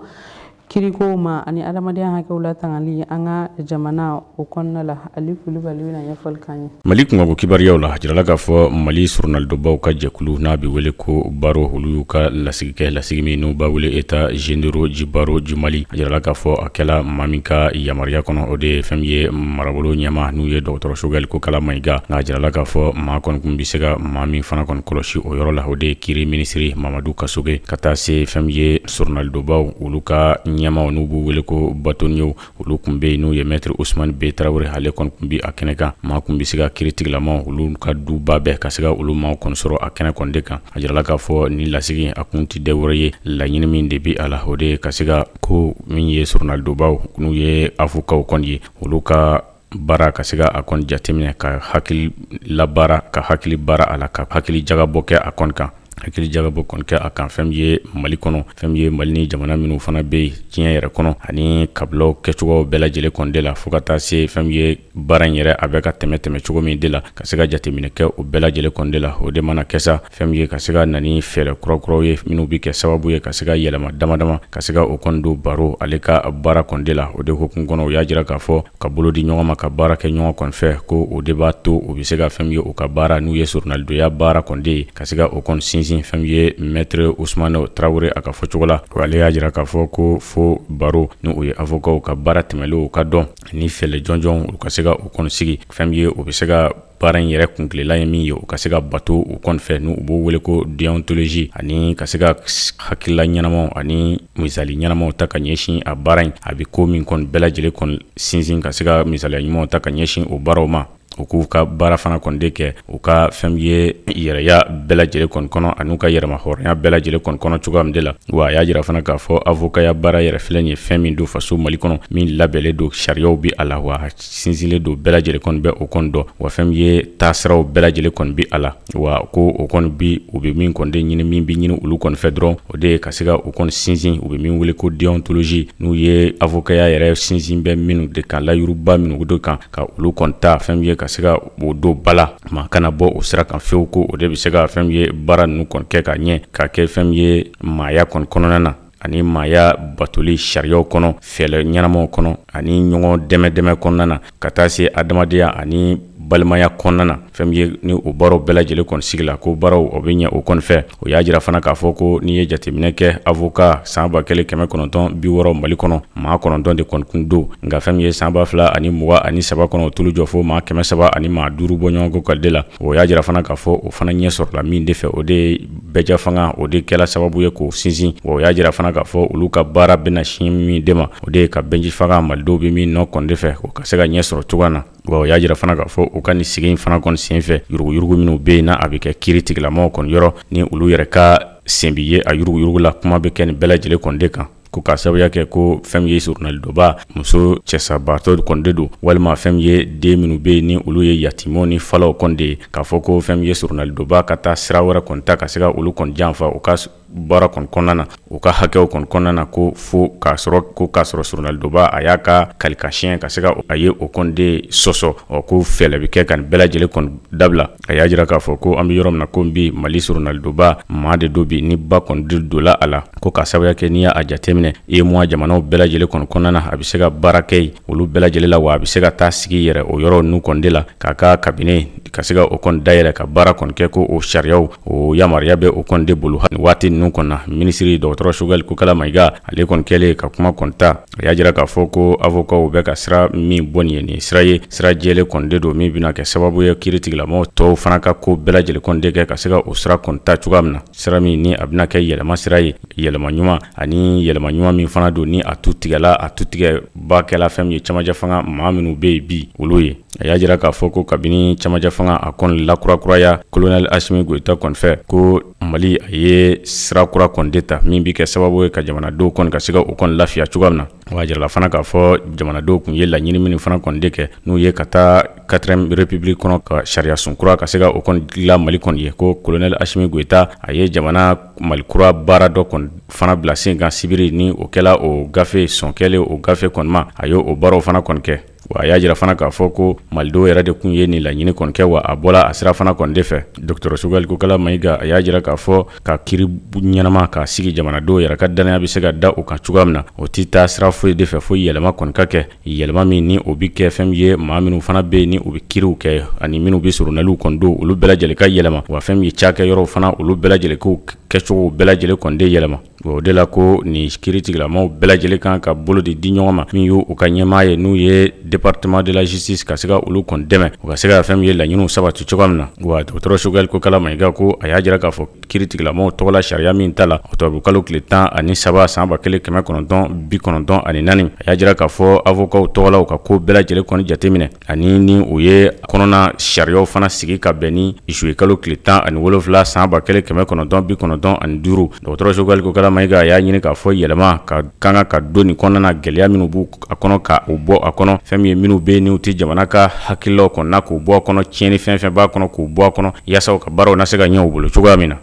kirikow ma ani adamadenya hakɛw latangali an ka jamana o kɔnɔna la ali kulubali bɛna ɲɛfɔli k'an ye mali kunkanko kibaruyaw la a jirala k'a fɔ mali soronalidonbaaw ka jɛkulu n'a bɛ wele ko baro olu y'u ka lasigi kɛ lasigi min n'u b'a wele états généraux du barreau du mali a jirala k'a fɔ a kɛla maa min ka yamaruya kɔnɔ o de ye fɛn min ye marabolo ɲɛmaa n'o ye dɔgɔtɔrɔ sogɛli kokala mayiga nka a jirala k'a fɔ maa kɔni kun bɛ se ka maa min fana kɔni kɔlɔsi o yɔrɔ la o de ye kiri minisiri mamadu kasoge ka taa se fɛn min ye sɔrɔnalidobaw olu ka ɲɛmaw n'u b'u wele ko batoniyew olu kun be yen n'u ye mɛtiri usumani be tarawele ale kɔni kun be a kɛnɛ kan maa kun be se ka kiritigilamaw olu ka duba bɛɛ ka se ka olu maaw kɔni sɔrɔ a kɛnɛ kɔni de kan a jirala k'a fɔ ni lasigi a kun tɛ dɔ wɛrɛ ye laɲini min de be a la o de ye ka se ka ko min ye sɔrɔnalidobaw n'u ye avokaw kɔni ye olu ka baara ka se ka a kɔni jateminɛ ka hakili labaara ka hakili baara a la ka hakili jagabɔ kɛ a kɔni kan hakili jagabɔ kɔni kɛ a kan fɛn min ye mali kɔnɔ fɛn min ye mali ni jamana minnu fana bɛ yen diɲɛ yɛrɛ kɔnɔ ani kabilaw kɛcogo bɛɛ lajɛlen kɔni de la fo ka taa se fɛn min ye baara in yɛrɛ a bɛ ka tɛmɛ tɛmɛ cogo min de la ka se ka jateminɛ kɛ o bɛɛ lajɛlen kɔni de la o de mana kɛ sa fɛn min ye ka se ka na ni fɛɛrɛ kurakuraw ye minnu bɛ kɛ sababu ye ka se ka yɛlɛma damadama ka se ka o kɔni don baro ale ka baara kɔni de la o de hukumu kɔnɔ u y'a jira k'a fɔ ka bolo di ɲɔgɔn ma ka baara kɛ ɲɔgɔn kɔni fɛ ko o de b'a to u bɛ se ka fɛn min ye u ka baara n'u ye sɔrɔnalidoya baara kɔni de ye ka se ka o kɔni sinsin fɛn min ye mɛtre usman tarawele a ka fɔcogo la ale y'a jira k'a fɔ ko fo baro n'u ye avokaw ka baara tɛmɛlenw ka dɔn ni fɛɛrɛ jɔnjɔnw ka se ka o kɔni sigi fɛn min ye u bɛ se ka baara in yɛrɛ kuntilenna ye min ye u ka se ka bato u kɔni fɛ n'u b'o wele ko deontologie ani ka se ka hakilila ɲɛnamaw ani misali ɲɛnamaw ta ka ɲɛsin a baara in a bɛ ko min kɔni bɛɛ lajɛlen kɔni sinsin ka se ka misaliya ɲumanw ta ka ɲɛsin o baaraw ma u k'u ka baara fana kɔni de kɛ u ka fɛn ye yɛrɛya bɛɛ lajɛlen kɔni kɔnɔ an'u ka yɛrɛmahɔrɔnya bɛɛ lajɛlen kɔni kɔnɔ cogoya min de la wa a y'a jira fana k'a fɔ avokaya baara yɛrɛ filɛ nin ye fɛn min don faso mali kɔnɔ min labɛnlen don sariyaw bɛ a la wa sinsinlen don bɛɛ lajɛlen kɔni bɛ o kɔni dɔn wa fɛn min ye taasiraw bɛɛ lajɛlen kɔni bi a la wa ko o kɔni bi u bɛ min kɔni de ɲini min bɛ ɲini olu kɔni fɛ dɔrɔn o de ye ka se ka o kɔni sinsin u bɛ min wele ko deontologie n'u ye avokaya yɛrɛ sinsin bɛ minnu de kan layiduba minnu don kan ka olu kɔni ta fɛn min ye ka se ka o don ba la maa kana bɔ o sira kan fewu ko o de bɛ se ka fɛn min ye baara ninnu kɔni kɛ ka ɲɛ ka kɛ fɛn min ye maaya kɔni kɔnɔna na ani maaya batoli sariyaw kɔnɔ fɛɛrɛ ɲɛnamaw kɔnɔ ani ɲɔgɔn dɛmɛ dɛmɛ kɔnɔna na ka taa se adamadenya ani balimaya kɔnɔna na fɛn min ye ni o baaraw bɛɛ lajɛlen kɔni sigila ko baaraw o bɛ ɲɛ o kɔni fɛ o y'a jira fana k'a fɔ ko n'i ye jateminɛ kɛ avoka san ba kelen kɛmɛ kɔnɔntɔn bi wɔɔrɔ mali kɔnɔ maa kɔnɔntɔn de kɔni kun don nka fɛn min ye san ba fila ani mugan ani saba kɔnɔ o tulu jɔ fo maa kɛmɛ saba ani maa duuru bɔɲɔgɔnko kɔni de la o y'a jira fana k'a fɔ o fana ɲɛ sɔrɔla min de fɛ o de ye bɛɛjɛfanga o de kɛla sababu ye k'o sinsin wa u y'a jira fana k'a fɔ olu ka baara bɛna sin min de ma o de ye ka bɛɛjɛfanga malidenw bɛ min nɔ kɔni de fɛ o ka se ka ɲɛ sɔrɔ cogoya na wa o y'a jira fana k'a fɔ u ka nin sigi in fana kɔni senfɛ yuruguyurugu minnu bɛ yen n'a bɛ kɛ kiritigilamaw kɔni yɔrɔ ni olu yɛrɛ ka sen bɛ ye a yuruguyurugu la kuma bɛ kɛ nin bɛɛ lajɛlen kɔni de kan ko ka sababuya kɛ ko fɛn min ye soronalidonbaa muso cɛsabaatɔ kɔni de don walima fɛn min ye den minnu bɛ yen ni olu ye yatimɛw ni falaw kɔni de ye k'a fɔ ko fɛn min ye soronalidonbaa ka taa sira wɛrɛ kɔni ta ka se ka olu kɔni janfa u ka baara kɔni kɔnɔna na u ka hakɛw kɔni kɔnɔna na ko fo k'a sɔrɔ ko k'a sɔrɔ soronalidonbaa a y'a ka kali ka siɲɛ ka se ka a ye o kɔni de sɔsɔ ɔ ko fɛlɛ bɛ kɛ ka nin bɛɛ lajɛlen kɔni dabila A y'a jira k'a fɔ ko an bɛ yɔrɔ min na ko bi mali soronalidonbaa maa de don bi ni ba kɔni de donla a la ko ka sababuya kɛ n'i y'a jateminɛ UEMOA jamanaw bɛɛ lajɛlen kɔnɔ kɔnɔna na a bɛ se ka baara kɛ yen olu bɛɛ lajɛlen la wa a bɛ se ka taa sigi yɛrɛ o yɔrɔ ninnu kɔni de la k'a ka kabinɛ ka se ka o kɔni dayɛlɛ ka baara kɔni kɛ ko o sariyaw o yamaruya bɛ o kɔni de bolo waati ninnu kɔnɔna minisiri dɔgɔtɔrɔ Sogɛli Kokala Mayiga ale kɔni kɛlen ka kuma kɔni ta a y'a jira k'a fɔ ko avokaw bɛ ka sira min bɔ nin ye nin sira ye sira jɛlen kɔni de don min bɛna kɛ sababu ye kiiritigɛlamɔgɔ tɔw fana ka ko bɛɛ lajɛlen kɔni de kɛ ka se ka o sira kɔni ta cogoya min na sira min ni a bɛna kɛ yɛlɛma sira ye yɛlɛma ɲuman ani yɛlɛma ɲuman min fana don ni a tutigɛla a tutigɛbaa kɛla fɛn min ye camancɛ fanga maa minnu bɛ yen bi olu ye a y'a jira k'a fɔ ko kabini camancɛ fanga a kɔni lakurakuraya kolonɛli asimi goyita kɔni fɛ ko Mali a ye sira kura kɔni de ta min bɛ kɛ sababu ye ka jamanadenw kɔni ka se ka u kɔni lafiya cogoya min na wa jirala fana k'a fɔ jamanadenw tun ye laɲini minnu fana kɔni de kɛ n'u ye ka taa quatrième République kɔnɔ ka sariya sun kura ka se ka o kɔni dilan mali kɔni ye ko kolonɛli asimi goyita a ye jamana mali kura baara dɔ kɔni fana bila sen kan sibiri ni o kɛla o gafe sɔn kɛlen o gafe kɔni ma a y' o baaraw fana kɔni kɛ Wa a y'a jira fana k'a fɔ ko malidenw yɛrɛ de tun ye nin laɲini kɔni kɛ wa a bɔla a sira fana kɔni de fɛ docteur Sogɛli Kokala Mayiga a y'a jira k'a fɔ ka kiiri ɲɛnama k'a sigi jamanadenw yɛrɛ ka dannaya bɛ se ka da o kan cogoya min na o tɛ taa sira foyi de fɛ fo yɛlɛma kɔni ka kɛ yɛlɛma min ni o bɛ kɛ fɛn min ye maa minnu fana bɛ yen ni u bɛ kiiriw kɛ ani minnu bɛ soronaliw kɔni don olu bɛɛ lajɛlen ka yɛlɛma wa fɛn min ye cakɛyɔrɔw fana olu bɛɛ lajɛlen ko kɛcogo bɛɛ lajɛlen kɔni de yɛlɛma. O de la ko nin kiiritigɛlamɔgɔw bɛɛ lajɛlen kan ka bolo de di ɲɔgɔn ma min y' u ka ɲɛmaa ye n'u ye département de la justice ka se ka olu kɔni dɛmɛ u ka se ka fɛn min ye laɲiniw sabati cogoya min na wa dɔgɔtɔrɔ Sogɛli Kokala Mayiga ko a y'a jira k'a fɔ kiiritigɛlamɔgɔw tɔgɔla sariya min ta la ɔkutɔburu kalo tile tan ani saba san ba kelen kɛmɛ kɔnɔntɔn bi kɔnɔntɔn ani naani a y'a jira k'a fɔ avokaw tɔgɔla u ka ko bɛɛ lajɛlen kɔni jateminɛ ani ni u ye kɔnɔna sariyaw fana sigi ka bɛn ni zuye kalo tile tan ani wolonfila san ba kelen kɛmɛ kɔnɔntɔn bi kɔnɔntɔn ani duuru dɔgɔtɔrɔ Sogɛli Kokala Mayiga a y'a ɲini k'a fɔ yɛlɛma ka kan ka ka don nin kɔnɔna na gɛlɛya minnu b'a kɔnɔ ka u bɔ a kɔnɔ fɛn min ye minnu bɛ yen n'u tɛ jamana ka hakililaw kɔnɔ k'u bɔ a kɔnɔ tiɲɛni fɛn fɛn b'a kɔnɔ k'u bɔ a kɔnɔ yaasa u ka baaraw na se ka ɲɛ u bolo cogoya min na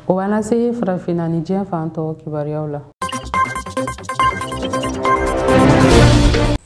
o b'an lase farafinna ni diɲɛ fan tɔ kibaruyaw la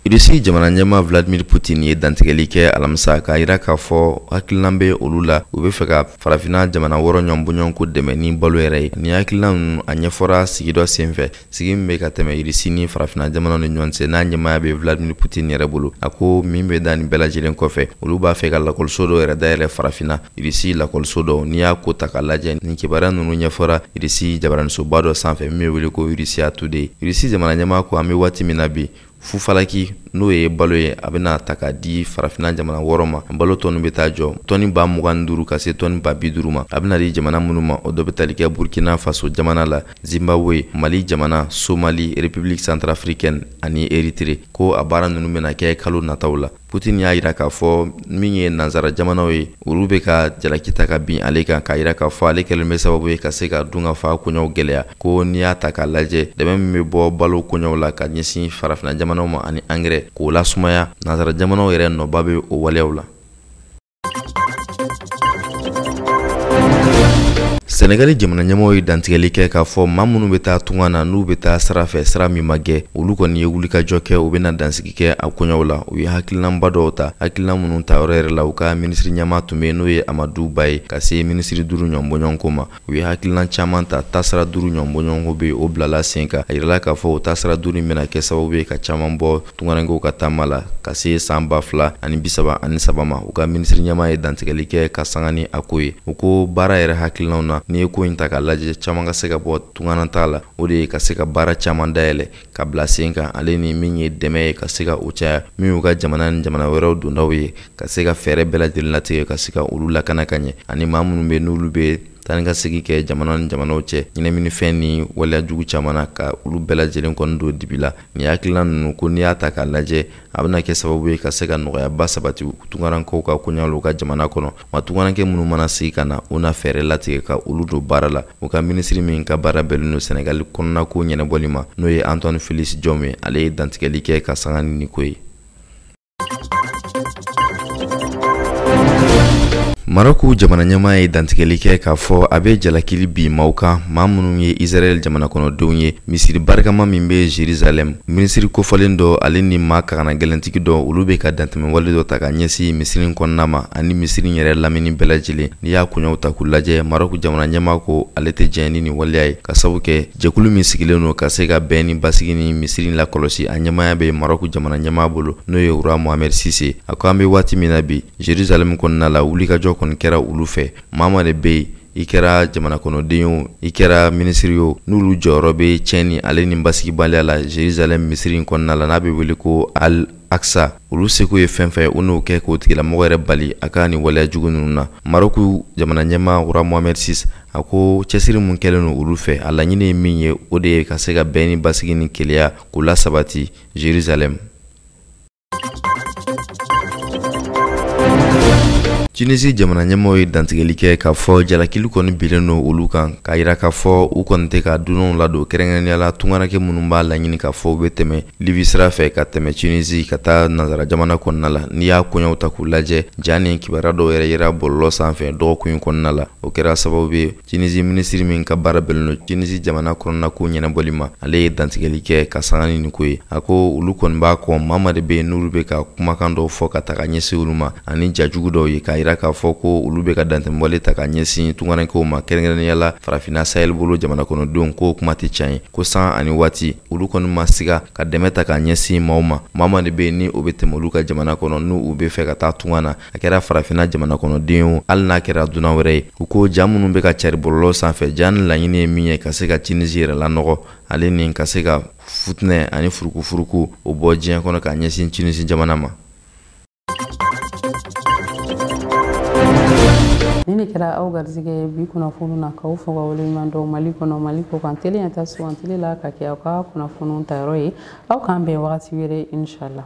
irisi jamana ɲɛmaa vladimir putin ye dantigɛli kɛ alamisa k'a yira k'a fɔ hakililan bɛ olu la u bɛ fɛ ka farafina jamana wɔɔrɔ ɲɔnbɔɲɔgɔnko dɛmɛ ni balo yɛrɛ ye nin hakililan ninnu a ɲɛfɔra sigi dɔ senfɛ sigi min bɛ ka tɛmɛ irisi ni farafina jamanaw ni ɲɔgɔn cɛ n'a ɲɛmaaya bɛ vladimir putin yɛrɛ bolo a ko min bɛ da nin bɛɛ lajɛlen kɔfɛ olu b'a fɛ ka lakɔliso dɔ yɛrɛ dayɛlɛ farafina irisi lakɔliso dɔ n'i y'a ko ta k'a lajɛ nin kibaruya ninnu ɲɛfɔra irisi jabaranisoba dɔ sanfɛ min bɛ wele ko russia today irisi jamana ɲɛmaa ko an bɛ waati min na bi fufalaki n'o ye balo ye a bɛna ta k'a di farafina jamana wɔɔrɔ ma balo tɔni bɛ taa jɔ tɔni ba mugan ni duuru ka se tɔni ba bi duuru ma a bɛna di jamana minnu ma o dɔ bɛ tali kɛ burkina faso jamana la zimbabwe mali jamana somali republique centrafricaine ani eritre ko a baara ninnu bɛna kɛ kalo nataw la Putin y'a yira k'a fɔ min ye nansara jamanaw ye olu bɛ ka jalaki ta ka bin ale kan k'a yira k'a fɔ ale kɛlen bɛ sababu ye ka se ka dunkafa koɲɛw gɛlɛya ko n'i y'a ta k'a lajɛ dɛmɛ min bɛ bɔ balo koɲɛw la ka ɲɛsin farafina jamanaw ma ani angɛrɛ k'o lasumaya nansara jamanaw yɛrɛ nɔba bɛ o waleyaw la sɛnɛgali jamana ɲɛmɔgɔw ye dantigɛli kɛ k'a fɔ maa minnu bɛ taa tunga na n'u bɛ taa sira fɛ sira min ma gɛ olu kɔni ye wulikajɔ kɛ u bɛna dansigi kɛ a koɲɛw la u ye hakilinaba dɔw ta hakilina minnu ta yɔrɔ yɛrɛ la u ka minisiri ɲɛmaa tun bɛ n'o ye amadu ba ye ka se minisiri duuru ɲɔnbɔɲɔgɔnko ma u ye hakililan caman ta taasira duuru ɲɔgɔn bɔɲɔgɔnko bɛ yen o bilala sen kan a yirala k'a fɔ o taasira duuru in bɛna kɛ sababu ye ka caman bɔ tungarankɛw ka taama la ka se san ba fila ani bisaba ani saba ma u ka minisiri ɲɛmaa ye dantigɛli kɛ ka sanga ni a ko ye u ko baara yɛrɛ hakilinaw na n'i ye ko in ta k'a lajɛ caman ka se ka bɔ tunganataa la o de ye ka se ka baara caman dayɛlɛ ka bila sen kan ale ni min ye dɛmɛ ye ka se ka o caya min y'u ka jamana ni jamana wɛrɛw dondaw ye ka se ka fɛɛrɛ bɛɛ lajɛlen latigɛ ka se ka olu lakana ka ɲɛ ani maa minnu bɛ n'olu bɛ taa ni ka segin kɛ jamana ni jamanaw cɛ ɲɛnaminifɛn ni waleya jugu caman na ka olu bɛɛ lajɛlen kɔni don dibi la nin hakilina ninnu ko n'i y'a ta k'a lajɛ a bɛna kɛ sababu ye ka se ka nɔgɔyaba sabati tungarankɛw ka koɲɛ la u ka jamana kɔnɔ maa tungarankɛ minnu mana segin ka na u na fɛɛrɛ latigɛ ka olu don baara la u ka minisiri min ka baara bɛnnen don sɛnɛgali kɔnɔnako ɲɛnabɔli ma n'o ye antoine félix diome ye ale ye dantigɛli kɛ ka sanga ni nin ko ye Marɔku jamana ɲɛmaa ye dantigɛli kɛ k'a fɔ a bɛ jalakili bin maaw kan maa minnu ye Israɛl jamana kɔnɔdenw ye misiri barikama min bɛ Jerusalem minisiri kofɔlen dɔ ale ni maa kagana gɛlɛntigi dɔ olu bɛ ka dantɛmɛwale dɔ ta ka ɲɛsin misiri in kɔnɔna ma ani misiri in yɛrɛ lamini bɛɛ lajɛlen n'i y'a koɲɛw ta k'u lajɛ Marɔku jamana ɲɛmaa ko ale tɛ jɛn ni nin waleya ye ka sabu kɛ Jɛkulu min sigilen don ka se ka bɛn ni basigi ni misiri lakɔlɔsi a ɲɛmaaya bɛ Marɔku jamana ɲɛmaa bolo n'o ye Roi Mohamed Six a ko an bɛ waati min na bi Jerusalem kɔnɔna la wulikajɔ kɔni kɛra olu fɛ maa maa de bɛ yen i kɛra jamanakɔnɔden o i kɛra minisiri o n'olu jɔyɔrɔ bɛ tiɲɛni ale ni basigibaliya la Jerusalem misiri in kɔnɔna la n'a bɛ wele ko al aksa olu seko ye fɛn fɛn u n'o kɛ k'o tigilamɔgɔ yɛrɛ bali a ka nin waleya jugu ninnu na maroku jamana ɲɛmaa roi mohamed six a ko cɛsiri min kɛlen don olu fɛ a laɲini ye min ye o de ye ka se ka bɛn ni basigi ni kelenya k'u lasabati jerusalɛm tunisi jamana ɲɛmaaw ye dantigɛli kɛ k'a fɔ jalakili kɔni binnen don olu kan k'a yira k'a fɔ u kɔni tɛ ka dunanw ladon kɛrɛnkɛrɛnnenya la tungaranke minnu b'a laɲini k'a fɔ u bɛ tɛmɛ libi sira fɛ ka tɛmɛ tunisi ka taa nansara jamana kɔnɔna la n'i y'a koɲɛw ta k'u lajɛ ja ni kibaruya dɔw yɛrɛ yera bɔlɔlɔ sanfɛ dɔgɔkun kɔnɔna la o kɛra sababu ye tunisi minisiri min ka baara bɛnnen don tunisi jamana kɔnɔnako ɲɛnabɔli ma ale ye dantigɛli kɛ ka sanga ni nin ko ye a ko olu kɔni b'a kɔn maa ma de bɛ yen n'olu bɛ ka kumakan dɔw fɔ ka ta ka ɲɛsin olu ma ani ja jugu dɔw ye k'a yira k'a fɔ ko olu bɛ ka dantɛmɛwale ta ka ɲɛsin tungarankew ma kɛrɛnkɛrɛnnenya la farafinna sahel bolo jamana kɔnɔdenw k'o kuma tɛ tiɲɛ ye ko sanga ni waati olu kɔni ma siga ka dɛmɛ ta ka ɲɛsin maaw ma maa ma de bɛ yen ni o bɛ tɛmɛ olu ka jamana kɔnɔ n'u b'a fɛ ka taa tunga na a kɛra farafinna jamana kɔnɔden o hali n'a kɛra dunan wɛrɛ ye u ko ja minnu bɛ ka cari bɔlɔlɔ sanfɛ ja nin laɲini ye min ye ka se ka tunisi yɛrɛ lanɔgɔ ale ni ka se ka fitinɛ ani furukufuruku o bɔ diɲɛ kɔnɔ ka ɲɛsin tunisi jamana ma nin ne kɛra aw garijɛgɛ ye bi kunnafoni na k'aw fo ka waleɲuman dɔn mali kɔnɔ mali kɔkan tele ɲɛta sugandili la ka kɛ aw ka kunnafoniw tayɔrɔ ye aw k'an bɛn wagati wɛrɛ inshallah